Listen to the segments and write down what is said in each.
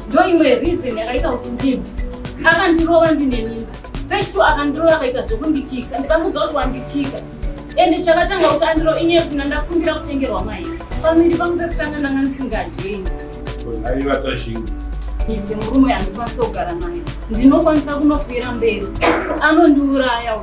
ndoimwe reason yakaita kuti ndibve akandirova ndine mimba first two akandirova akaita zvekundikika ndikamudza kuti wandikika and chakatanga kuti andiro inye kuna ndakumbira kutengerwa mai pamiri pangu pekutanga ndanga ndisingadyei ise murume andikwanisa kugara naye ndinokwanisa kunofuyira mberi anondiuraya u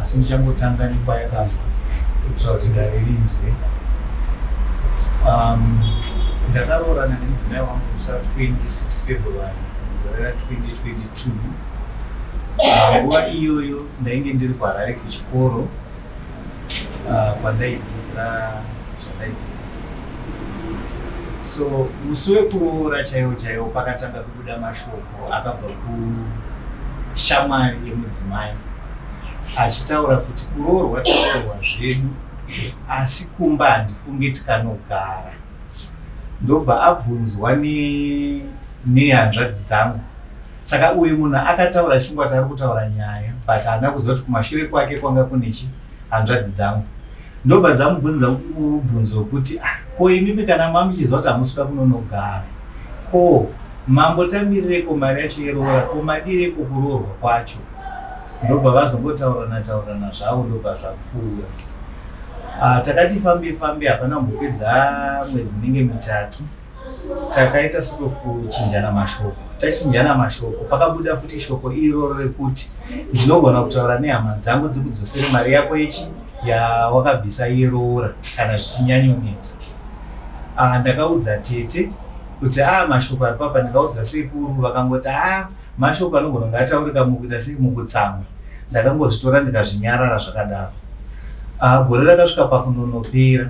asi ndichangotanga nekwayakabva kuitira kuti dare rinzwe um, ndakaroorana nemudzimai wangu musa 26 february gore ra 2022 nguva uh, iyoyo ndainge ndiri kuharare kuchikoro uh, kwandaidzidzira zvandaidzidza so musi wekuroora chaiwo chaiwo pakatanga kubuda mashoko akabva kushamwari yemudzimai achitaura kuti kuroorwa taroorwa zvedu asi kumba handifunge tikanogara ndobva abvunzwa nehanzvadzi dzangu saka uyu munhu akataura chingwati ari kutaura nyaya but haana kuziva kuti kumashure kwake kwanga kune chi hanzvadzi dzangu Ndobva dzamubvunza mubvunzo wekuti ah, ko imimi kana mamuchiziva kuti hamusi kuda kunonogara ko mambo tamirireko mari yacho yeroora ko madireiko kuroorwa kwacho ndobva vazongotaurirana taurirana zvavo ndobva zvapfuura ah, takati fambe fambe hapana kumbopedza mwedzi inenge mitatu takaita sort of kuchinjana mashoko tachinjana mashoko pakabuda futi shoko iroro rekuti ndinogona kutaura nehama dzangu dzikudzosere mari yako yechi yawakabvisa yeroora kana zvichinyanyonetsa ah, ndakaudza tete kuti a ah, mashoko ari papa ndingaudza sekuru vakangoti a ah, mashoko anogona kunge ataurika mukuita sei mukutsamwa ndakangozvitora ndikazvinyarara zvakadaro gore rakasvika pakunonopera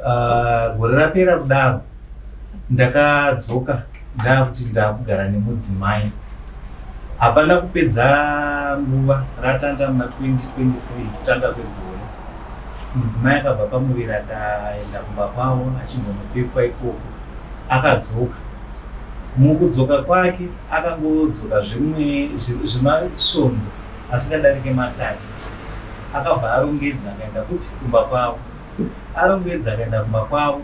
Ah, gore rapera kudaro ndakadzoka ndaakuti ndaakugara nemudzimai hapana kupedza nguva ratanda muna 2023 kutanga kwegore mudzimai akabva pamuviri akaenda kumba kwavo achimbonopepwa ikoko akadzoka mukudzoka kwake akangodzoka zvemasvondo asikadarike matatu akabva arongedza akaenda kupi kumba kwavo arongedza akaenda kumba kwavo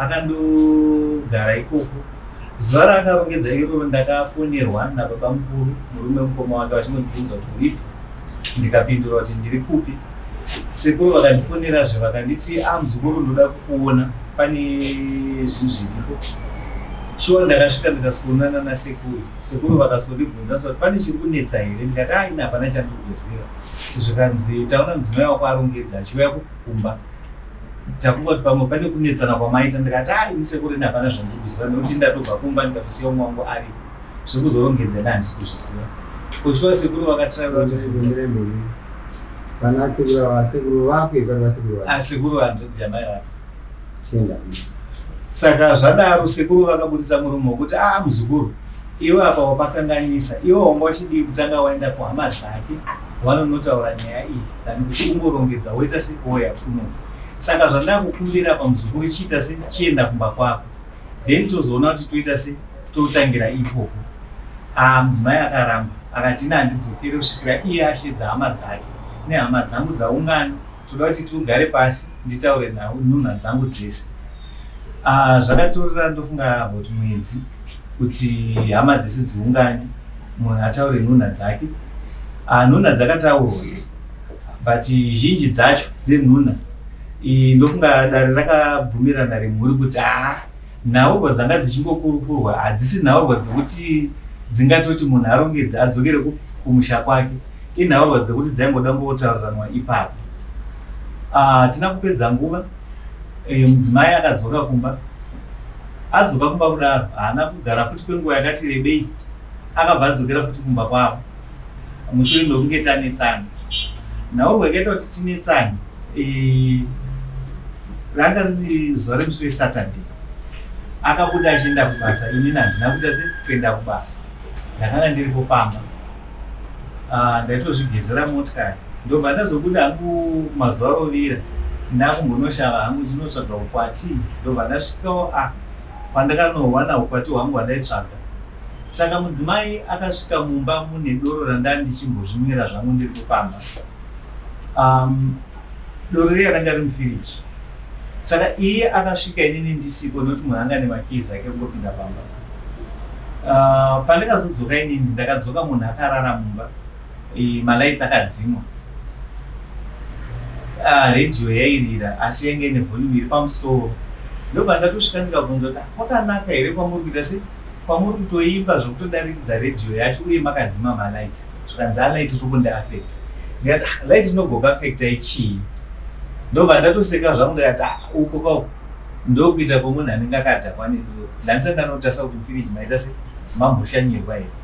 akandogara ikoko zuva raakarongedza iroro ndakafonerwa nababa mukuru murume mukoma wake vachingondibvunza kuti uripi ndikapindura kuti ndiri kupi sekuru vakandifonerazve vakanditi a ah, muzukuru ndoda kukuona pane zvinhu zviriko shuwa ndakasvika ndikasikuonana nasekuru sekuru vakasondibvunza kuti pane chiri kunetsa here ndikati aina ah, hapana chandiri kuziva zvikanzi taona mudzimai wako arongedza achiuya kukumba takungoti pamwe pane kunetsana kwamaita ndikati haa ini sekuru ini hapana zvandiri kuziva nekuti ndatobva kumba ndikatosiya umwe wangu aripo zvekuzorongedza ina handisi kuzviziva for sure sekuru vakatraira sekuru hanzvadzi yamai vake saka zvadaro sekuru vakaburitsa murume wekuti aa muzukuru Iwe apa wapakanganisa iwe wanga uchidii kutanga waenda kuhama dzake wanonotaura nyaya iyi than kuti ungorongedza woita sekouya kuno saka zvandakukumbira apa muzukuru chiita se chienda kumba kwako then tozoona kuti toita se totangira ipopo aa mudzimai akaramba akati ini handidzokere kusvikira iye ashedza hama dzake nehama dzangu dzaungana Toda kuti tugare pasi nditaure nawo nhunha dzangu dzese. Ah, zvakatorera ndofunga about mwedzi kuti hama dzese dziungane munhu ataure nhunha dzake. Ah, nhunha dzakataurwa but zhinji dzacho dzenhunha eh, ndofunga dare rakabvumirana remhuri kuti haa ah, Nhaurwa dzanga dzichingokurukurwa hadzisi nhaurwa dzekuti dzingatoti munhu arongedze adzokere kumusha kwake, inhaurwa dzekuti dzaingoda kungotauriranwa ipapo. Ah, hatina kupedza nguva, eh, mudzimai akadzoka kumba. Adzoka kumba kudaro, haana kugara futi kwenguva yakati rebei, akabva adzokera futi kumba kwavo. mushure mekunge tanetsana nhaurwa yakaita kuti tinetsane eh, ranga riri zuva remusi wesaturday akabuda achienda kubasa inini handina kuita se kuenda kubasa ndakanga ndiripo pamba ah, ndaitozvigezera motikari ndobva ndazobuda hangu mazuva arovira ndakumbonoshava hangu ndinotsvaga ukwati ndobva ndasvikawo a ah, kwandakanowana ukwati hwangu hwandaitsvaga Saka mudzimai akasvika mumba mune doro randandichimbozvimwira zvangu ndiri kufamba. Um, doro riya ranga riri mufiriji. Saka iye akasvika inini ndisiko nekuti munhu anga nemakizi ake kungopinda pamba. Uh, pandakazodzoka inini ndakadzoka munhu akarara mumba malaits akadzimwa ah, radio yairira asi yainge ine volume iri pamusoro ndobva ndatosvika ndikabvunza kuti ah, kwakanaka here kwamuri kuita sei Kwamuri kutoimba zvekutodarikidza radio yacho uye makadzima ma lights zvikanzi a light rikundi affecta ndikati ah light rinogoku affectai chii ndobva ndatoseka zvangu ndikati ah uko ka uko ndokuita kwemunhu anenge akadhakwa nedoro ndandisati ndanotarisa kuti mufiriji maita se mamboshanyirwa here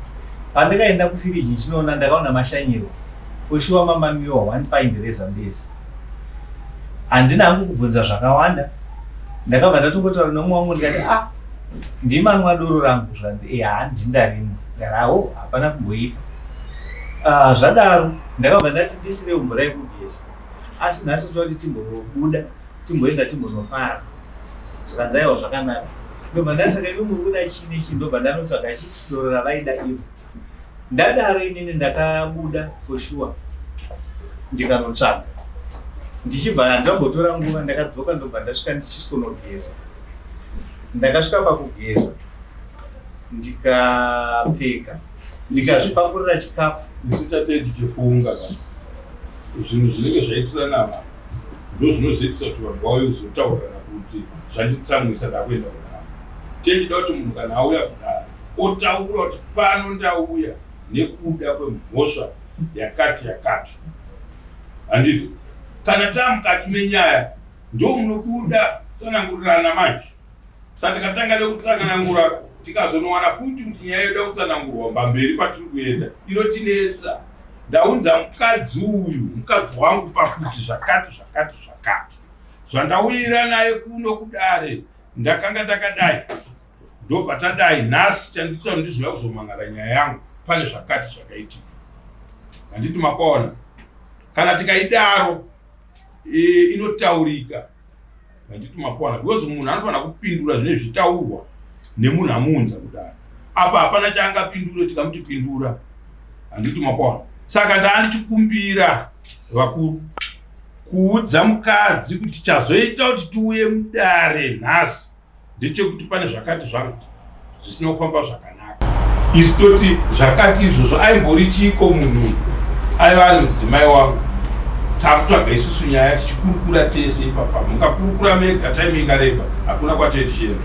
pandikaenda kufiriji ndichinoona ndakaona mashanyirwa for sure mamamiwa one pint rezambezi handina hangu kubvunza zvakawanda ndakabva ndatongotaura nomwe wangu ndikati a ah, ndimanwa doro rangu zvanzi e eh, handi ndarimwa ndaraho oh, hapana kumboipa ah, zvadaro ndakabva ndati ndisire mvura yekugeza asi nhasi toda kuti timbobuda timboenda timbonofara zvikanzaiwa zvakanaka ndobva ndasaka ivo muri kuda chii nechii ndobva ndanotsvaga chi doro ravaida ivo Ndadaro inini ndakabuda for sure ndikanotsvaga ndichibva handambotora nguva ndakadzoka ndobva ndasvika ndichisonogeza ndakasvika pakugeza ndikapfeka ndikazvipakurira chikafu ndisitatedi chifunga zvinhu zvinenge zvaitirana apa ndo zvinozoitisa kuti vanhu vauye kuzotaurana kuti zvanditsamwisa ndakuenda kudara tendida kuti munhu kana auya kudara otaura kuti pano ndauya nekuda kwemhosva yakati yakati handiti kana taamukati menyaya ndomunobuda tsanangurirana manje sa takatanga nekutsanangura tikazonowana futi kuti nyaya yoda kutsanangurwa mbamberi patiri kuenda inotinetsa ndaunza mukadzi uyu mukadzi wangu pakuti zvakati zvakati zvakati zvandauyira naye kuno kudare ndakanga ndakadai ndopatadai nhasi chanditira kuti ndizouya kuzomhan'ara nyaya yangu pane zvakati zvakaitika handiti makwaona kana tikaidaro e, inotaurika handiti makwaona because munhu anofanira kupindura zvine zvitaurwa nemunhu amuunza kudaro apa hapana chaangapindure tikamuti pindura handiti makwaona saka ndaandichikumbira vakuru kuudza mukadzi kuti chazoita kuti tiuye mudare nhasi ndechekuti pane zvakati zvangu zvisina kufamba zvakanaka. Isu toti zvakati izvozvo aimbori chiiko munhu aiva ari mudzimai wangu takutsvaga isusu nyaya tichikurukura tese ipapa mukakurukura mega time ikareba hakuna kwatee tichienda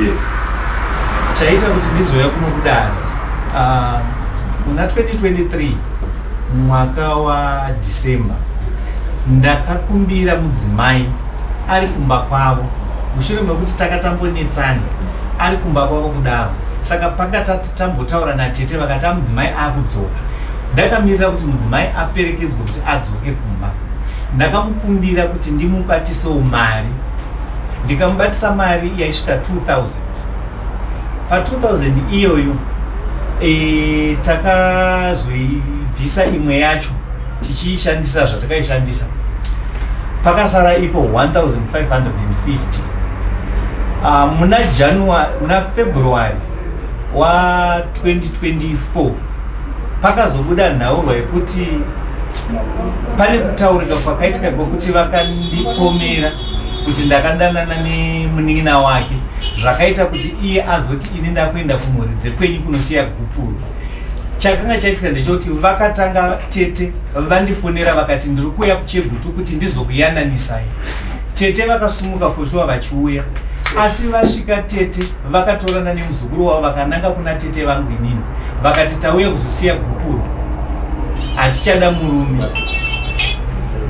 yes. chaita kuti ndizouya kunokudaro ah, muna 2023 mwaka wadecember ndakakumbira mudzimai ari kumba kwavo mushure mekuti takatambonetsana ari kumba kwavo kudaro saka panga tati tambotaura natete vakati amudzimai akudzoka ndakamirira kuti mudzimai aperekedzwe kuti adzoke kumba ndakamukumbira kuti ndimubatisewo mari ndikamubatisa mari yaisvika 2000 pa 2000 iyoyo e, takazoibvisa imwe yacho tichiishandisa zvatakaishandisa pakasara ipo 1550 uh, muna january muna february wa 2024 pakazobuda nhaurwa yekuti pane kutaurika kwakaitika kwekuti vakandipomera kuti ndakadanana nemunin'ina wake zvakaita kuti iye azoti ini ndakuenda kumhuri dzekwenyu kunosiya gupuro chakanga chaitika ndechekuti vakatanga tete vandifonera vakati ndiri kuuya kuchegutu kuti ndizokuyananisai tete vakasumuka foshuwa vachiuya asi vasvika tete vakatorana nemuzukuru wavo vakananga kuna tete vangu inini vakati tauya kuzosiya gupuro hatichada murume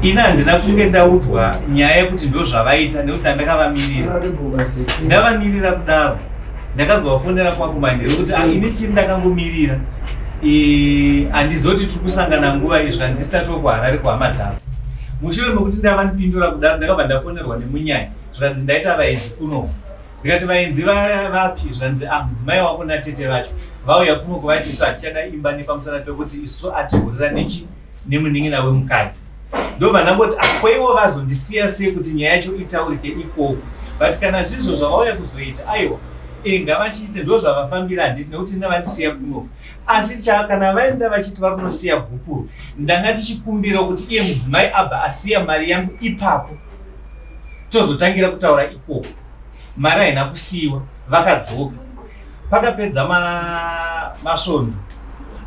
ini handina kunge ndaudzwa nyaya yekuti ndozvavaita nekuti andakavamirira ndavamirira kudaro ndakazovafonera kwangu manje nekuti ah, ini tiri ndakangomirira handizoti tiri kusangana nguva iyi zvanzi sitatiwo kuharare kuhama dzavo mushure mekuti ndava ndipindura kudaro ndakabva ndafonerwa nemunyaya zvanzi ndaita vaenzi kuno ndikati vaenzi vapi zvanzi a ah, mudzimai wako natete vacho vauya kuno kuvatisu hatichada imba nepamusana pekuti isu atohurira nechi nemunin'ina wemukadzi ndobva ndangoti akwaiwo ah, vazondisiya sei kuti nyaya yacho itaurike ikoko but kana zvizvo zvavauya kuzoita aiwa eh, ngavachiite ndo zvavafambira handiti nekuti nevandisiya kuno asi cha kana vaenda vachiti vari kunosiya gupuro ndanga ndichikumbira kuti iye mudzimai abva asiya mari yangu ipapo tozotangira kutaura ikoko mari haina kusiyiwa vakadzoka pakapedza ma masvondo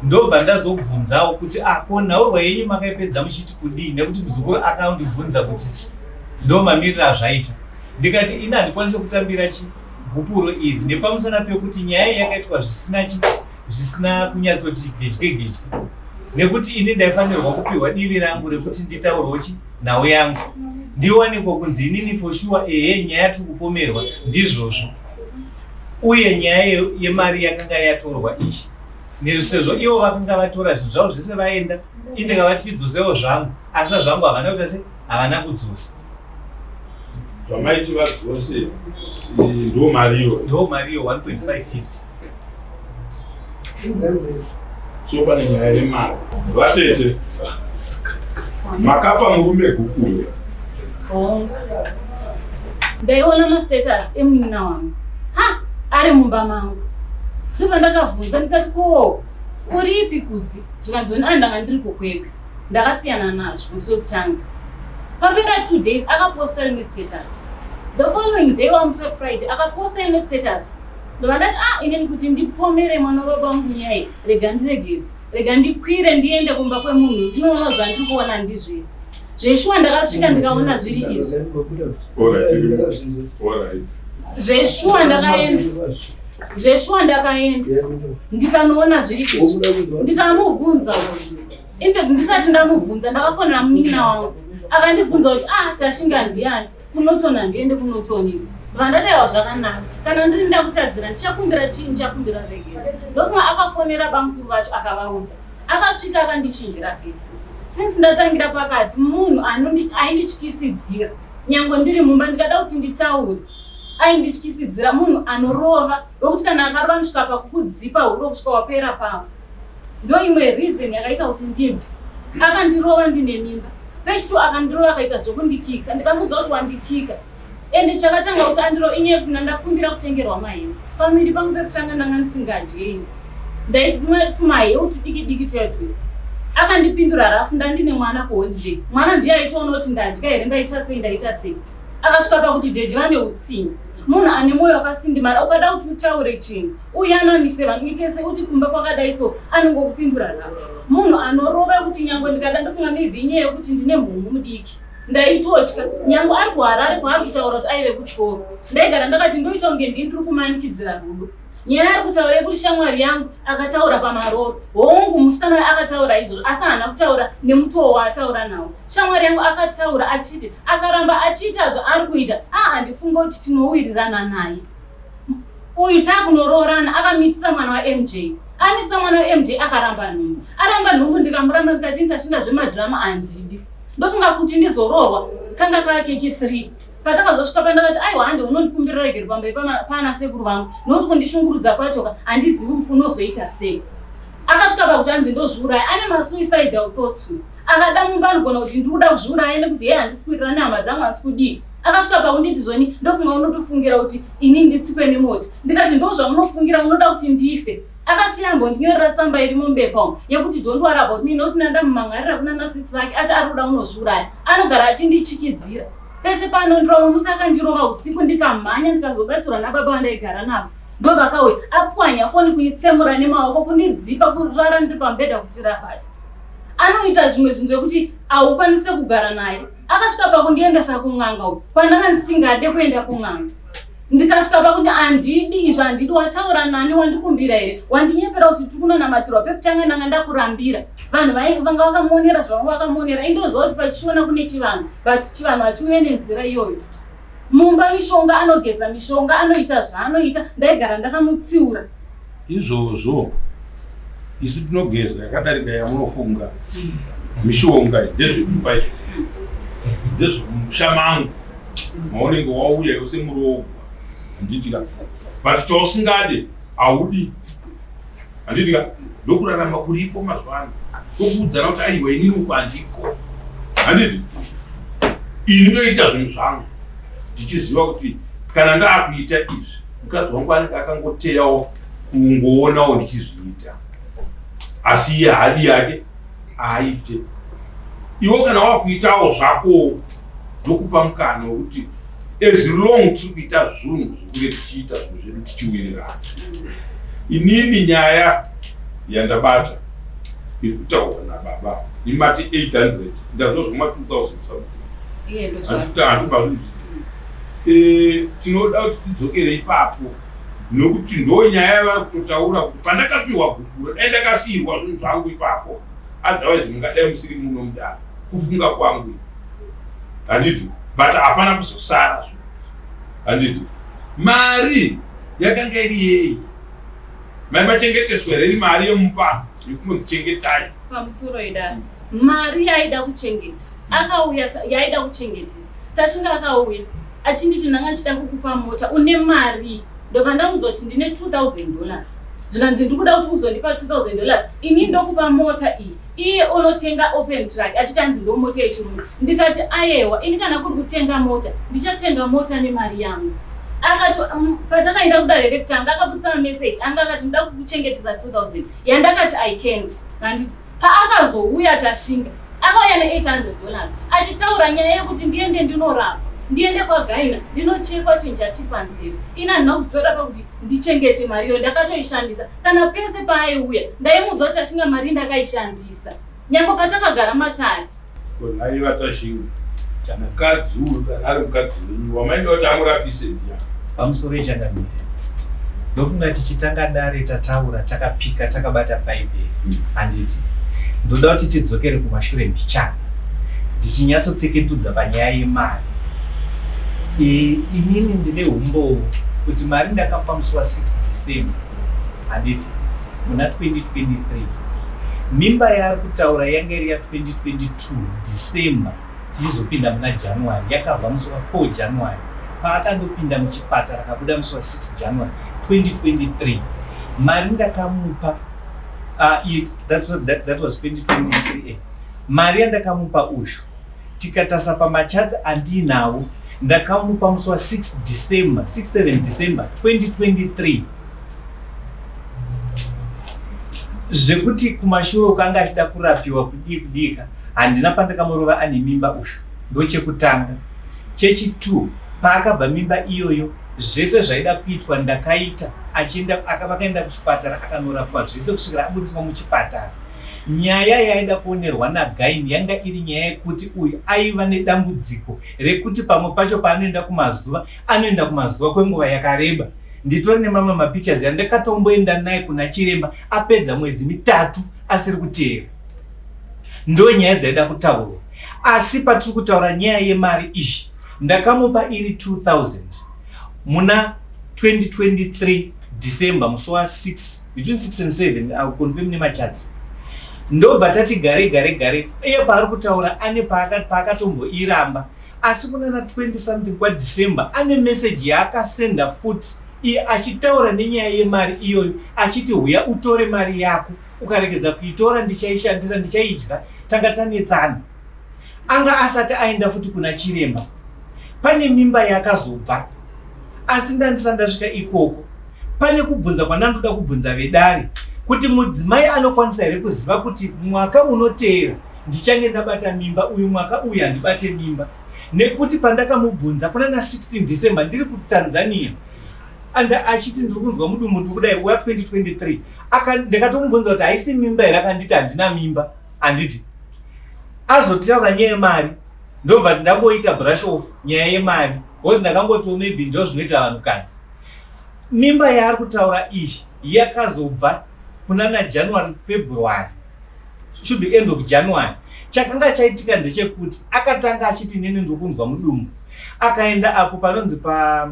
ndobva ndazobvunzawo kuti ah ko nhaurwa yenyu makaipedza muchiti kudii nekuti muzukuru akandibvunza kuti ndomamirira azvaita ndikati ini handikwanise kutambira chi gupuro iri nepamusana pekuti nyaya iyi yakaitwa zvisina chi zvisina kunyatsoti gedye gedye nekuti ini ndaifanirwa kupiwa divi rangu rekuti nditaurwo chi nhau yangu ndiwaniko kunzi inini for sure ehe nyaya tiri kupomerwa ndizvozvo uye nyaya yemari yakanga yatorwa ichi nesezvo ivo vakanga vatora zvinhu zvavo zvese vaenda indi nga vati chidzosewo zvangu asi sazvangu havana kuita se havana kudzosa zvamaiti vadzose ndo mariyo ndo mariyo 1.550 so pane nyaya yemari vatete makapa murume gukuyo ndaiona mastatus emunina wangu ha ari mumba mangu ndobva ndakavhunza ndikati ko uripi kudzi zvikanzoni a ndanga ndiri kukwekwe ndakasiyana nazvo musi wekutanga papera two days akaposta rimwe status the following day wamusi wefriday akaposta imwe status Ndobva ndati ah inini kuti ndipomere mwana wababa vangu nyaya rega ndiregedze. Rega ndikwire ndiende kumba kwemunhu ndinoona zvandiri kuona ndizviri. Zveshuwa ndakasvika ndikaona zviri izvi. Zveshuwa ndakaenda zveshuwa ndakaenda ndikanoona zviri izvi ndikamubvunza infact ndisati ndamubvunza ndakafonera munin'ina wangu akandibvunza kuti ah tashinga ndiani Kunotoni handiende kunotoni vandarewa zvakanaka kana ndiri ndakutadzira ndichakumbira chii ndichakumbira regero ndofunga akafonera bamukuru vacho akavaudza akasvika akandichinjira vese since ndatangira pakati munhu aindityisidzira nyangwe ndiri mumba ndikada kuti nditaure aindityisidzira munhu anorova wekuti kana akarova ndisvika pakukudzipa huro kusvika wapera pavo ndoimwe reason yakaita kuti ndibve akandirova ndine mimba page two akandirova akaita zvekundikika ndikamuudza kuti wandikika ende chakatanga kuti andiro inye kuna ndakumbira kutengerwa maheu pamiri pangu pekutanga ndanga ndisingadyeini ndaimwe tumaheu tudiki diki tuya tuya akandipindura rafu ndandine mwana kuholiday mwana ndiye aitoona kuti ndadya here ndaita sei ndaita sei akasvika pakuti dhedhi vane utsinye munhu ane mwoyo wakasindimara ukada kuti utaure chinhu uye anomise vanhu itese uti kumba kwakadai so anongokupindura nhasi munhu anorova kuti nyangwe ndikada ndofunga maybe inyaya yokuti ndine mhungu mudiki ndaitotya nyangwe ari kuharare kwaari kutaura kuti aive kutyoro ndaigara ndakati ndoita kunge ndini tiri kumanikidzira rudo nyaya ari kutaura yekuti shamwari yangu akataura pamaroro hongu musikana uyo akataura izvozvo asi haana kutaura nemutoo waataura nawo shamwari yangu akataura achiti akaramba achiita zvaari kuita aa ndifunga kuti tinowirirana naye uyu takunoroorana akamitisa mwana wamj amitisa mwana wamj akaramba nhumbu aramba nhumbu ndikamuramba ndikati nditachinda zvemadhirama handidi ndofunga kuti ndizoroorwa kanga kakeki three patakazosvika pandakati aiwa hande unondikumbirira regeri pambai pana sekuru vangu nokuti kundishungurudza kwachoka handizivi kuti unozoita sei akasvika pakuti anzi ndozviuraya ane masuicidal thoughts akada mumba anogona kuti ndikuda kuzviuraya nekuti hee handisi kuwirirana hama dzangu handisi kudii akasvika pakunditi zvoni ndokunga unotofungira kuti ini nditsikwe nemoti ndikati ndo zvamunofungira munoda kuti ndife akasiya ambondinyorera tsamba irimo mubepa umu yekuti don't worry about me not nandamumangarira kuna masisi vake ati ari kuda unozviuraya anogara achindichikidzira pese pano ndiromwe musi akandirova usiku ndikamhanya ndikazobatsirwa nababa vandaigara navo ndo vakauya apwanya foni kuitsemura nemaoko kundidzipa kurara ndiri pambedha kuti rabati anoita zvimwe zvinhu zvekuti haukwanise kugara naye akasvika pakundiendesa kun'anga uku kwandanga ndisingade kuenda kun'anga ndikasvika pakuti handidi izvo handidi wataura nani wandikumbira here wandinyepera kuti tiri kunonamatirwa pekutanga ndanga ndakurambira vanhu vanga vakamonera zvavanga vakamonera indoziva kuti pachiona kune chivanhu but chivanhu hachiuye nenzira iyoyo mumba mishonga anogeza mishonga anoita zvaanoita ndaigara ndakamutsiura izvozvo isu tinogeza yakadarika yamunofunga mishonga ndezvekupa izvi ndezvemusha mangu maunenge wauya yose muroogwa handitira but chausingade haudi Handiti ka? Ndokurarama kuripo mazuva ano. Kokuudzana kuti aiwa inini uko handiko. Handiti? Ini ndoita zvinhu zvangu ndichiziva kuti kana ndaakuita izvi mukadzi wangu anenge akangoteyawo kungoonawo ndichizviita asi iye hadi yake aite iwo kana wakuitawo zvako ndokupa mukana wekuti as long tiri kuita zvunhu zvekunge tichiita zvinhu zvedu tichiwirirana inini nyaya yandabata iri kutaurwa nababa ini mati 800 ndazva zvoma 2000 andikuti handibazvii eh, tinoda kuti tidzokere ipapo nokuti ndo nyaya yavari kutotaura kuti pandakapiwa gukuro dai ndakasiirwa zvinhu zvangu ipapo otherwise mungadai musiri muno mudaro kufunga kwangu handiti but hapana kuzosara zvo handiti mari yakanga iri yei mai vachengeteswa here iri mari yemupano yekunondichengetai pamusoro idani mari yaida kuchengeta akauya yaida kuchengetesa tashinga akauya achinditi ndanga ndichida kukupa mota une mari ndobva ndaunzwa kuti ndine 2000 dollars zvikanzi ndikuda kuti uzondipa 2000 dollars ini ndokupa mota iyi Iye onotenga open truck achitanzi ndomota yechirungu ndikati ayewa ini kana kuri kutenga mota ndichatenga mota nemari yangu akati um, patakaenda kudare rekutanga akabudisa mamessage anga akati ndoda kukuchengetesa 2000 yandakati i can't handiti paakazouya tashinga akauya ne800 dollars achitaura nyaya yekuti ndiende ndinorapa ndiende kwagaina ndinochekwa chinhu chatipanzira ini handina kutora pakuti ndichengete mari iyo ndakatoishandisa Kana pese paaiuya ndaimuudza kuti ashinga mari ndakaishandisa nyange patakagara matare. Ko nhai vatashinga kana kadzi uyu kana ari mukadzi wenyu wamaida kuti amurapise ndiya. Pamusoro ichakamira ndofunga tichitanga dare tataura takapika takabata bhaibheri hmm. handiti ndoda kuti tidzokere kumashure mbichana ndichinyatsotseketudza panyaya yemari inini ndine umbowo kuti mari ndakapa musi wa 6 december handiti muna 2023 mimba yaari kutaura yanga iri ya 2022 December tichizopinda muna January yakabva musi wa 4 January paakandopinda muchipatara akabuda musi wa 6 January 2023 mari ndakamupa uh, it, that, that, that was 2023 eh. mari yandakamupa uyu tikatarisa pamacharts andiinawo ndakamupa musi wa 6 December 67 December 2023 zvekuti kumashure ukanga achida kurapiwa kudii kudika handina pandakamurova ane mimba uyu ndochekutanga chechi 2 paakabva mimba iyoyo zvese zvaida kuitwa ndakaita achienda vakaenda kuchipatara akanorapwa zvese kusvikira abudiswa muchipatara Nyaya yaida kuonerwa naGaini yanga iri nyaya yekuti uyu aiva nedambudziko rekuti pamwe pacho paanoenda kumazuva, anoenda kumazuva kwenguva yakareba. Nditori nemamwe mapictures yandakatomboenda naye kuna chiremba apedza mwedzi mitatu asiri kuteera. Ndo nyaya dzaida kutaurwa. Asi patiri kutaura nyaya yemari izvi, ndakamupa iri 2000. muna 2023 December musi wa 6 between 6 and 7 I'll confirm nemacharts ndobva tati gare gare gare iye paari kutaura ane paakatomboiramba asi kunana 20 something kwadecember ane meseji yaakasenda futi iye achitaura nenyaya yemari iyoyo achiti huya utore mari yako ukaregedza kuitora ndichaishandisa ndichaidya tanga tanetsana anga asati aenda futi kuna chiremba pane mimba yakazobva asi ndandisa ndasvika ikoko pane kubvunza kwandandoda kubvunza vedare kuti mudzimai anokwanisa here kuziva kuti mwaka unoteera ndichange ndabata mimba uyu mwaka uyu handibate mimba nekuti pandakamubvunza kuna na 16 december ndiri kutanzania and achiti ndiri kunzwa mudumbu ndiri kudai wa 2023 ndakatomubvunza kuti haisi mimba here akanditi handina mimba anditi azotaura nyaya yemari ndobva kuti ndangoita brush off nyaya yemari bcause ndakangotiwo maybe ndo zvinoita vanhukadzi mimba yaari kutaura iyi yakazobva kuna najanuary february should be end of january chakanga chaitika ndechekuti akatanga achiti neni ndiri kunzwa mudumbu akaenda apo panonzi pa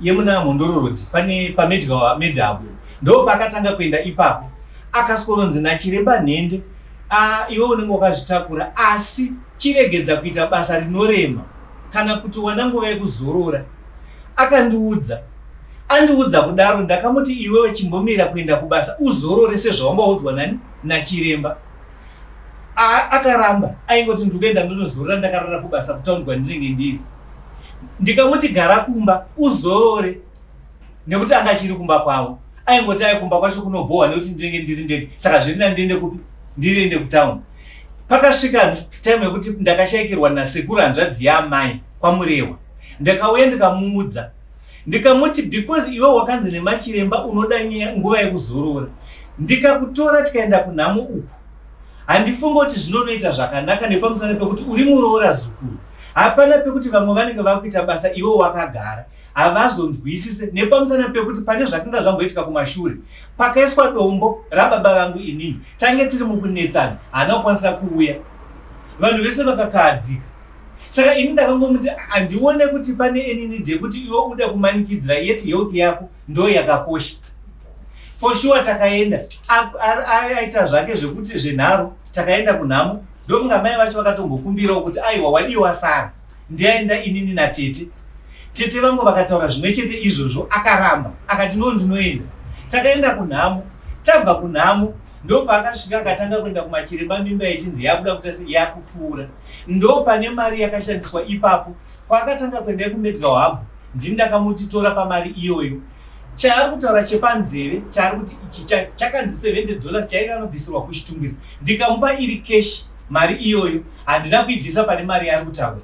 yemuna Mhondoro Road pane paMedgar Meda apo ndo paakatanga kuenda ipapo akasikoronzi nachiremba nhende a iwe unenge wakazvitakura asi chiregedza kuita basa rinorema kana kuti wana nguva yekuzorora akandiudza andiudza kudaro ndakamuti iwewe chimbomira kuenda kubasa uzorore sezvawanga waudzwa nani nachiremba akaramba aingoti ndikuenda ndonozorora ndakarara kubasa kutaundwa ndinenge ndiri ndikamuti gara kumba uzorore nekuti anga chiri kumba kwavo aingoti ayi kumba kwacho kunobhohwa nekuti ndinenge ndiri ndege saka zviri nani ndiende kupi ndiriende kutown pakasvika time yekuti ndakashaikirwa nasekuru hanzvadzi yaamai kwamurehwa ndakauya ndikamuudza ndikamuti because iwe wakanzi nemachiremba unoda nguva yekuzorora ndikakutora tikaenda kunhamo uku handifunge kuti zvinonoita zvakanaka nepamusana pekuti uri muroora zukuru hapana pekuti vamwe vanenge vakuita basa iwo wakagara havazonzwisise nepamusana pekuti pane zvakanga zvamboitika kumashure pakaiswa dombo rababa vangu inini tange tiri mukunetsana haana kukwanisa kuuya vanhu vese vakakahadzika saka ini ndakangomuti handione kuti pane enini dekuti iwe uda kumanikidzira yet health yako ndo yakakosha for sure takaenda aita zvake zvekuti zvenharo takaenda kunhamo ndokunga mai vacho vakatombokumbirawo kuti aiwa wadiwa sara ndiaenda inini natete tete vangu vakataura zvimwe chete izvozvo akaramba akati no ndinoenda takaenda kunhamo tabva kunhamo ndopaakasvika akatanga kuenda kumachiremba mimba yechinzi yabuda kutasi yakupfuura ndopane mari yakashandiswa ipapo Kwaakatanga kuenda yekuMedical Hub ndini ndakamuti tora pamari iyoyo. Chaari kutaura chepanzeve chaari kuti ichi chakanzi 70 dollars chairi anobvisirwa kuchitungwiza ndikamupa iri cash mari iyoyo handina kuibvisa pane mari yaari kutaura.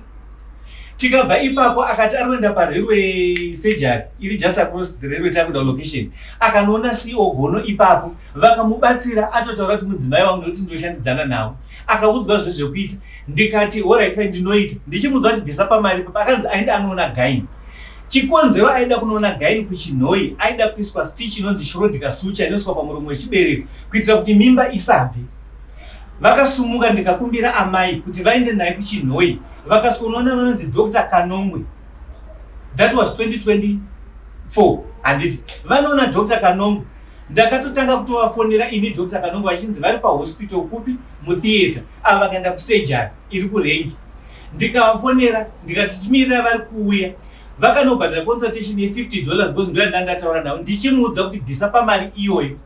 Tikabva ipapo akati ari kuenda parailway surgery iri just across the railway takuda location. Akanoona CEO Gono ipapo vakamubatsira atotaura kuti mudzimai wangu nekuti ndoshandidzana navo. akaudzwa zve zvekuita ndikati horit fai ndinoita ndichimuudza kuti bvisa pamari papa akanzi aenda anoona gaini chikonzero aida kunoona gaini kuchinhoi aida kuiswa stich inonzi shrodika sucha inoiswa pamuromo wechibereko kuitira kuti mimba isabve vakasumuka ndikakumbira amai kuti vaende naye kuchinhoi vakasvika unoona vanonzi dr kanongwe that was 2024 handiti vanoona dr kanongwe ndakatotanga kutovafonera ini Dr Kanongo vachinzi vari pahospital kupi mutheatre ava vakaenda kusurgery iri kurengi ndikavafonera ndikati timirira vari kuuya vakanobhadhira consultation ye50 dollars because ndo yandanga ndataura navo ndichimuudza kuti bvisa pamari iyoyo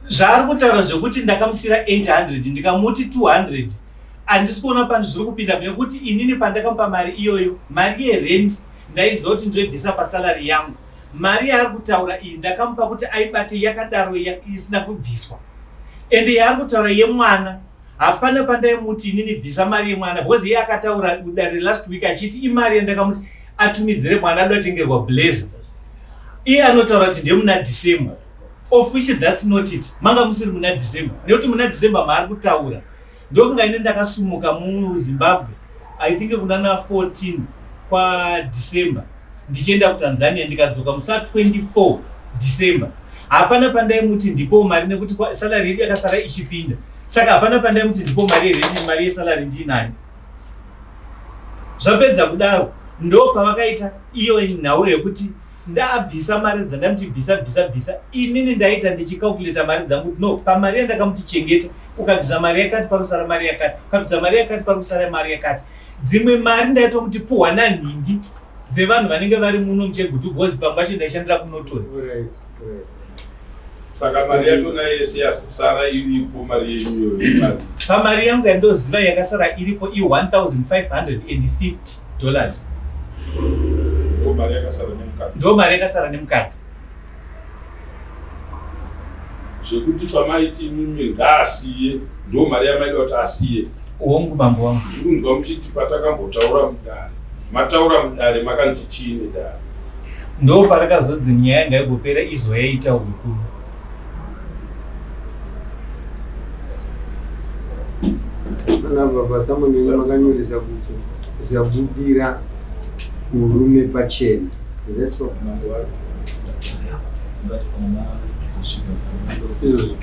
zvaari kutaura zvekuti ndakamusira 800 ndikamuti 200 handisi kuona pano zviri kupinda nekuti inini pandakamupa mari iyoyo mari yerent ndaiziva kuti ndoibvisa pasalary yangu Mari yaari kutaura iyi ndakamupa kuti aibate yakadaro isina kubviswa ende yaari kutaura yemwana hapana pandaimuti inini bvisa mari yemwana because iye akataura dare last week achiti imari yandakamuti atumidzire mwana ado atengerwa blaze iye anotaura kuti ndemuna december of which that's not it manga musiri muna december nekuti muna december maari kutaura Ndofunga ini ndakasumuka muZimbabwe I think kunana 14 kwa December ndichienda kuTanzania ndikadzoka musa 24 December. Hapana pandaimuti ndipo mari nekuti salary yedu yakasara ichipinda. Saka hapana pandaimuti ndipo mari yerent mari yesalary ndiinayo. Zvapedza kudaro ndopavakaita iyo nhau yekuti Ndaabvisa mari dzakanti bvisa bvisa bvisa inini ndaita ndichi calculator mari dzangu kuti no pamari yandakamuti chengeta ukabvisa mari yakati panosara mari yakati ukabvisa mari yakati parikusara mari yakati dzimwe mari ndaitomuti puhwa nanhingi dzevanhu vanenge vari muno muchegutu bhozi pamwe pacho ndaishandira kunotori saka mari yacho nayo yese yazosara iripo mari yenyu iyoyo pamari yangu yandoziva yakasara iripo i 1550 dollars ndo mari yakasara nemukadzi ndo mari yakasara nemukadzi zvekuti pamaiti imimi ngaasiye ndo mari yamaida kuti asiye hongu mambo wangu kunzwa muchiti patakambotaura mudare mataura mudare makanzi chii nedare Ndo parakazodzi nyaya ngaigopera izwa yaita ukuru. Kana baba samunini makanyoresa kuti zabudira murume pachena. That's all. Izvozvo.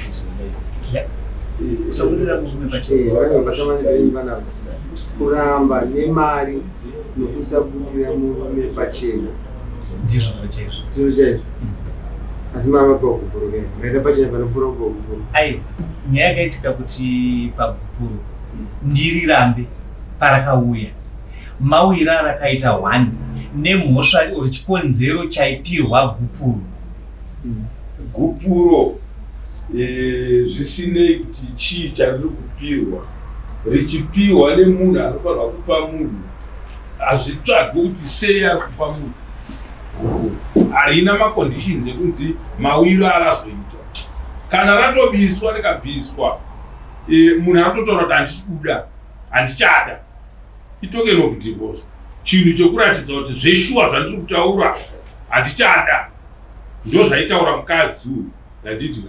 Sabudira murume pachena. Eh, vana baba samunini vanavo kuramba nemari nokusabudira murume pachena ndizvo zviro chaizvo zviro chaizvo asi mama pagupuro ke maita pachena panopfuura kupagupuro aiwa nyaya yakaitika kuti pagupuro ndiri rambe parakauya mauira arakaita one nemhosva or chikonzero chaipirwa gupuro gupuro zvisinei kuti chii chariri kupirwa richipihwa nemunhu anofanirwa kupa munhu hazvitsvagi kuti sei ari kupa munhu harina maconditions ekunzi mawiro arazoita kana ratobiswa rikabviswa e, munhu atotaura kuti handisi kuda handichada itokeno kudivosa chinhu chokuratidza kuti zveshuwa zvandiri kutaura handichada ndozvaitaura mukadzi uyu ndanditi ka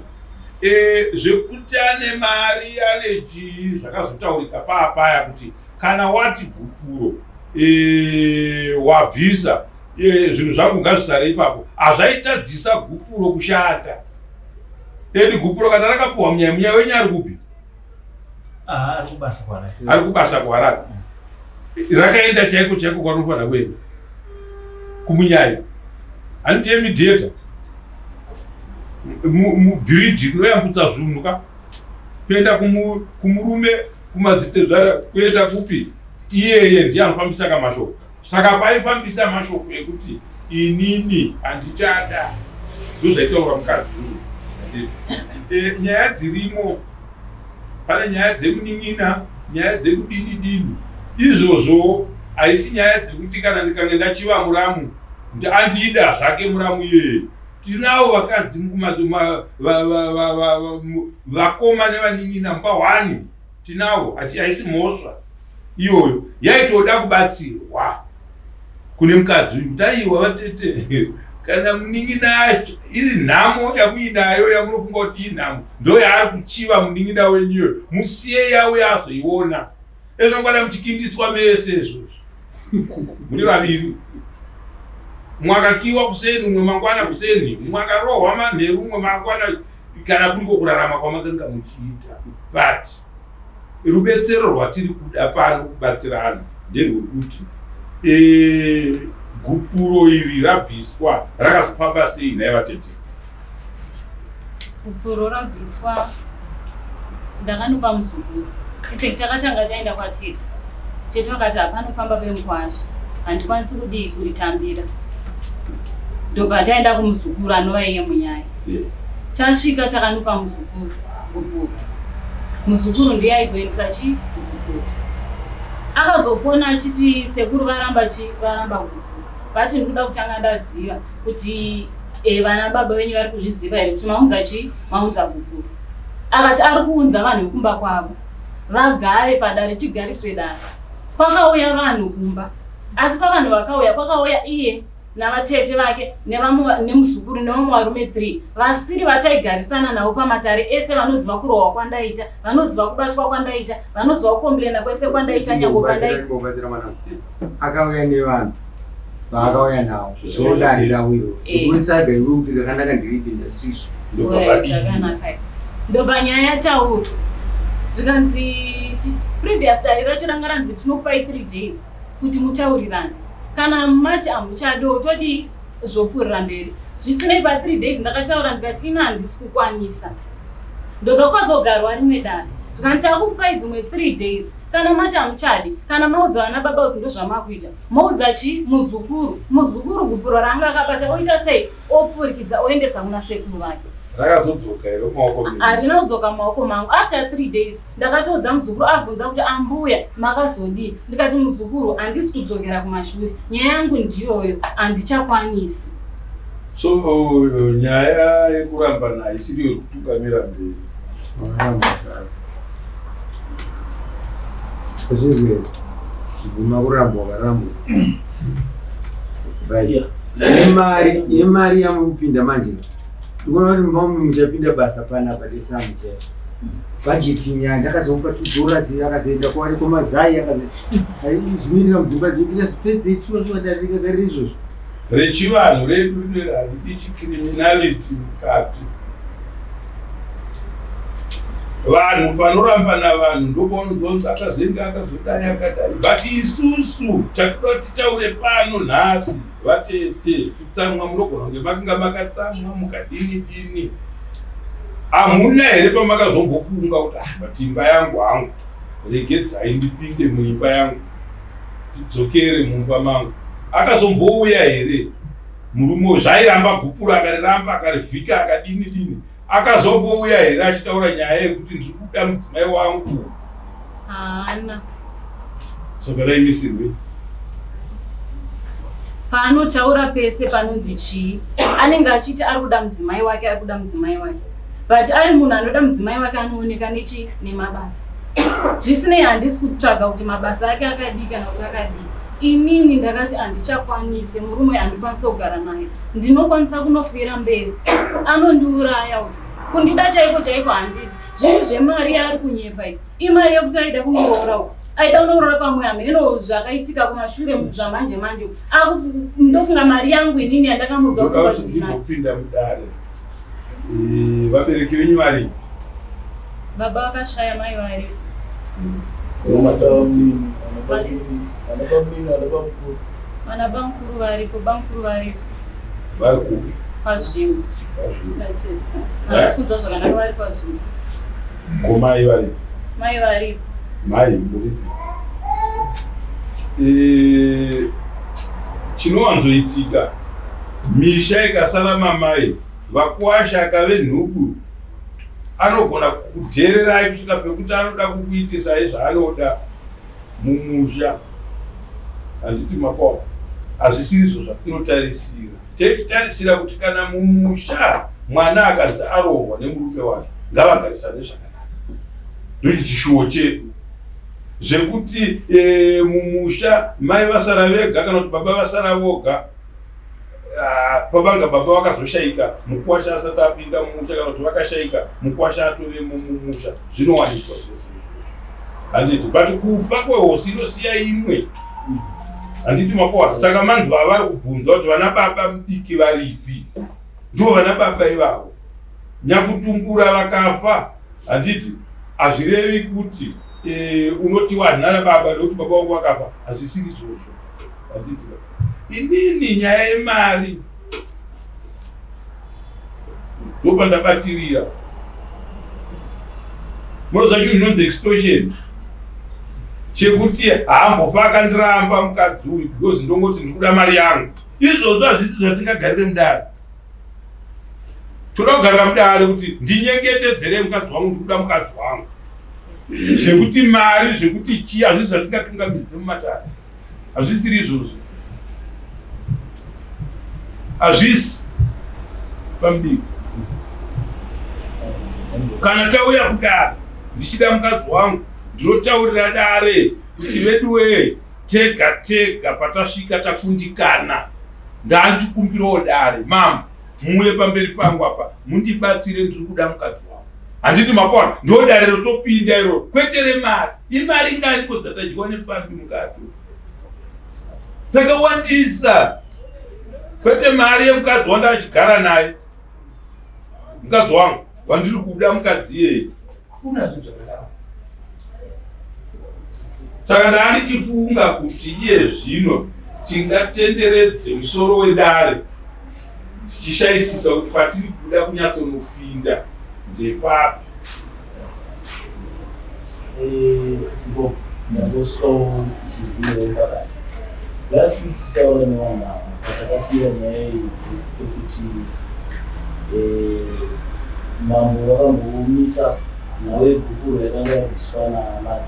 e, zvekuti ane mari ane chii zvakazotaurika paapaya kuti kana wati gupuro e, wabvisa e, zvinhu zvangu ngazvisare ipapo hazvaitadzisa gupuro kushanda edi gupuro kana rakapuhwa munyaya munyaya wenyu ari kupi Ah, ari kubasa kwaRae. ari kubasa kwaRae rakaenda chaiko chaiko kwanofanira kuenda kumunyayi handiti yemidhieta mubhiriji rinoyambutsa zvunhu ka kuenda kumurume kumadzitezvara kuenda kupi iyeye ndiye anofambisa kamashoko Saka paifambisa mashoko ekuti inini handichada ndozvaitaura mukadzi uyu e, nyaya dzirimo pane nyaya dzemunin'ina nyaya dzekudini dini izvozvo haisi nyaya dzekuti kana ndikange ndachiva muramu andiida zvake muramu iyeye tinawo vakadzi vakoma nevanin'ina mubahwani Tinawo ati haisi mhosva iyoyo yaitoda kubatsirwa kune mukadzi uyu kuti aiwa vatete kana munin'ina yacho iri nhamo yamuinayo yamunofunga kuti inhamo ndo yaari kuchiva munin'ina wenyu iyoyo musiye yauya azoiona ezvongwana muchikindiswa mese izvozvo muri vaviri umwe akakiwa kuseni umwe mangwana kuseni umwe akarohwa manheru umwe mangwana kana kuriko kurarama kwamakanga muchiita but rubetsero rwatiri kuda pano kubatsirana nderwekuti e, gupuro iri rabviswa rakazofamba sei nhai vatete gupuro rabviswa ndakanopa muzukuru effect takatanga taenda kwatete tete vakati hapanofamba vemukwasha handikwanisi kudii kuritambira ndobva taenda kumuzukuru anova iye munyaya Tasvika takanopa muzukuru guputu. Muzukuru ndiye aizoendesa chi guputu. Akazofona achiti sekuru varamba chi varamba guputu. Vati ndikuda kutanga ndaziva kuti eh, vana baba venyu vari kuzviziva here kuti maunza chi maunza guputu. Akati ari kuunza vanhu vekumba kwavo vagare padare tigariswe dare. Kwakauya vanhu kumba asi pavanhu vakauya kwakauya iye navatete vake nevamwe nemuzukuru nevamwe varume three vasiri vataigarisana navo pamatare ese vanoziva kurohwa kwandaita vanoziva kubatwa kwandaita vanoziva kukomburena kwese kwandaita nyango pandaiabatsira mwana akauya nevanhu vaakauya navo zvodarira wiro zvokurisaiga eh. iwe kuti rakanaka ndiriipinda sizvo zvakanaka ndobva nyaya yataurwa zvikanzi previous dare racho ranga ranzi tinokupai three days kuti mutaurirane kana mati amuchadoo todii zvopfuurira mberi zvisinei pa three days ndakataura ndikati ini handisi kukwanisa ndoda kwazogarwa rimwe dare zvikanzi takukupai dzimwe three days kana mati hamuchadi kana maudza vana baba kuti ndozvamakuita moudza chii muzukuru muzukuru gupuro raanga akabata oita sei opfurikidza oendesa kuna sekuru vake rakazodzoka here mumaoko harina kudzoka mumaoko mangu after three days Ndakatoudza muzukuru abvunza kuti ambuya makazodii ndikati muzukuru handisi kudzokera kumashure nyaya yangu ndiyoyo handichakwanisi. So nyaya yekurambana haisiri yekutungamira mberi. Zvizwe kubvuma kurambwa ukarambwa right nemari nemari yamupinda manje ndikuona kuti muchapinda basa panapa desamu chete budget nyaya ndakazomupa two dollars akazoenda kwaari kwamazai akazozvinoitira mudzimba dzedu ndikazvipedze shuwa shuwa ndarikagarira izvozvo rechivanhu redu rineri haridi chicriminality mukati vanhu panorambana vanhu ndopaunozonzi akazenge akazodai akadai but isusu tatoda kuti titaure pano nhasi Vatete kutsamwa munogona kunge makanga makatsamwa mukadini dini hamuna here pamakazombofunga kuti ah, but imba yangu hangu regedzai ndipinde muimba yangu tidzokere mumba mangu akazombouya here murume uyu zvairamba gupuro akariramba akarivhika akadini dini Akazongouya here achitaura nyaya yekuti ndiri kuda mudzimai wangu? Haana. Saka raimisirwei? Paanotaura pese panonzi chii? Anenge achiti ari kuda mudzimai wake, ari kuda mudzimai wake. But ari munhu anoda mudzimai wake anooneka nechi nemabasa. Zvisinei handisi kutsvaga kuti mabasa ake akadii kana kuti akadii. Inini ndakati andichakwanise murume andikwanise kugara naye ndinokwanisa kunofuyira mberi anondiuraya uyu kundida chaiko chaiko handidi zvinhu zvemari yaari kunyepa iyi imari yekuti aida kunoroora uku aida kunoroora pamwe hameno zvakaitika kumashure zvamanje manje ndofunga mari yangu inini yandakamuudza kuaa zvindinapinda mudare Eh, vabereki venyu vari baba vakashaya mai vari vana bamukuru varipo bamukuru varipo vari kupi pazvimbo havasi kunzwa zvakanaka vari pazvimbo ko mai varipo mai varipo mai muripi Eh, chinowanzoitika Misha ikasara mamai vakuwasha akave nhubu anogona kukudhererai kusvika pekuti anoda kukuitisai zvaanoda mumusha handiti makwao hazvisirizvo zvatinotarisira tetarisira kuti kana mumusha mwana akanzi arohwa nemurume wake ngavagarisane zvakanaka ndoiti chishuwo chedu zvekuti e, mumusha mai vasara vega kana kuti baba vasara voga Ah, pavanga baba vakazoshaika mukwasha asati apinda mumusha kana kuti vakashaika mukwasha atove mumusha zvinowanikwa zvese handiti but kufa kwehosi inosiya imwe handiti makohwa saka manzwa avari kubvunza kuti vana baba mudiki varipi ndo vana baba ivavo nyakutungura vakafa handiti hazvirevi kuti eh, unoti wanhana baba nekuti baba vangu vakafa hazvisiri zvozvo handiti inini nyaya yemari ndopandabatirira munoziva chinhu chinonzi extortion chekuti haambofa akandiramba mukadzi uyu because ndongoti ndikuda mari yangu izvozvo hazvisi zvatingagarire mudare toda kugarira mudare kuti ndinyengetedzere mukadzi wangu ndikuda mukadzi wangu zvekuti mari zvekuti chii hazvisi zvatingapingamidzise mumatare Hazvisiri izvozvo. Hazvisi pambiri. Kana tauya kudare ndichida mukadzi wangu ndinotaurira dare kuti veduwee tega tega patasvika takundikana ndandichikumbirawo dare mambo muuye pamberi pangu apa mundibatsire ndiri kuda mukadzi wangu. handiti makwana ndo dare rotopinda iro kwete remari imari ngani ko dzatadyiwa nefambi mukato dzakawandisa kwete mari yemukadzi wanda achigara naye mukadzi wangu wandiri kuda mukadzi iyeye hakuna zvinhu zvakadaro saka ndani tifunga kuti iye zvino tingatenderedze musoro wedare tichishaisisa kuti patiri kuda kunyatsonopinda ndepapi last week tichaona nevanhu ava patakasiira nyaya iyi yekuti eh, mambo vakamboomisa nhau yegupuro yakanga yabviswa naamada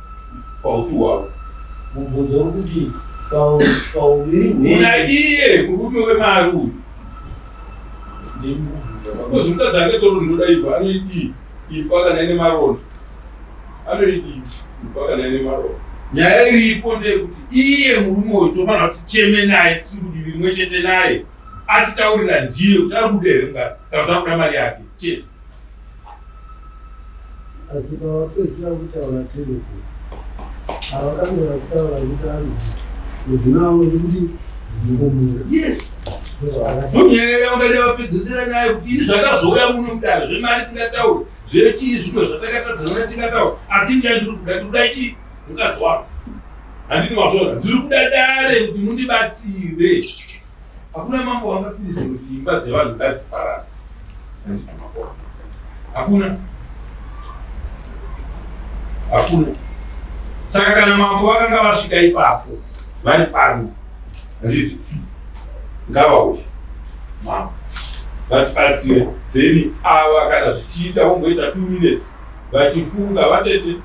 paupfu hwavo. Mubvunzo uri kuti pauviri hwenyu. Muna iye murume wemari uyu. Because mukadzi ake toro ndoda ibva anoidii ipa kana ine maronda anoidii ipa kana ine maronda nyaya iripo ndeyekuti iye murume uyu tofanira kuti cheme naye tiri kudivi rimwe chete naye atitaurira ndiye kuti ari kuda here mukadzi kana kuti akuda mari yake chete asi pavapedzisira kutaura tereko avakamera kutaura kuti ari mudzina wavo ndikuti ndikomura yes munyaya yanga yavapedzisira nyaya yekuti ini zvakazouya muno mudare zvemari tingataura zvechii zvino zvatakatadzana tingataura asi nyaya ndiri kuda ndikuda chi mukadzi wako handini wazvona ndiri kuda dare kuti mundibatsire Hakuna mambo wangapindudza kuti imba dzevanhu ngadziparare. Hakuna. Hakuna. Saka kana mambo vakanga vasvika ipapo vari pano handiti ngavauye mambo vatibatsire then ava kana zvichiita vomboita two minutes vachifunga vatete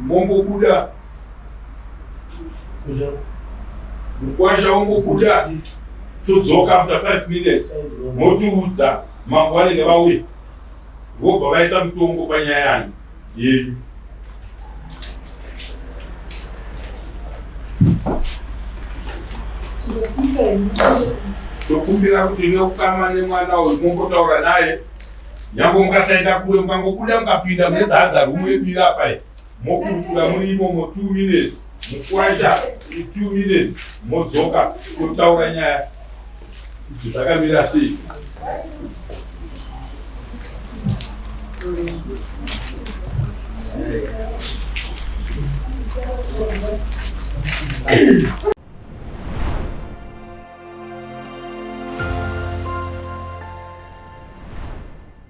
mombobuda mukwasha wongobuda todzoka after five minutes motiudza mambo vanenge vauya vobva vaisa mutongo panyaya yanyu yenyu tokumbira kuti neukama nemwana uyu mongotaura naye nyange mukasaenda kure mukangobuda mukapinda mune the other room yebira pai Mokurukura muri imomo two minutes mukuaita two minutes modzoka totaura nyaya kuti zvakamira sei.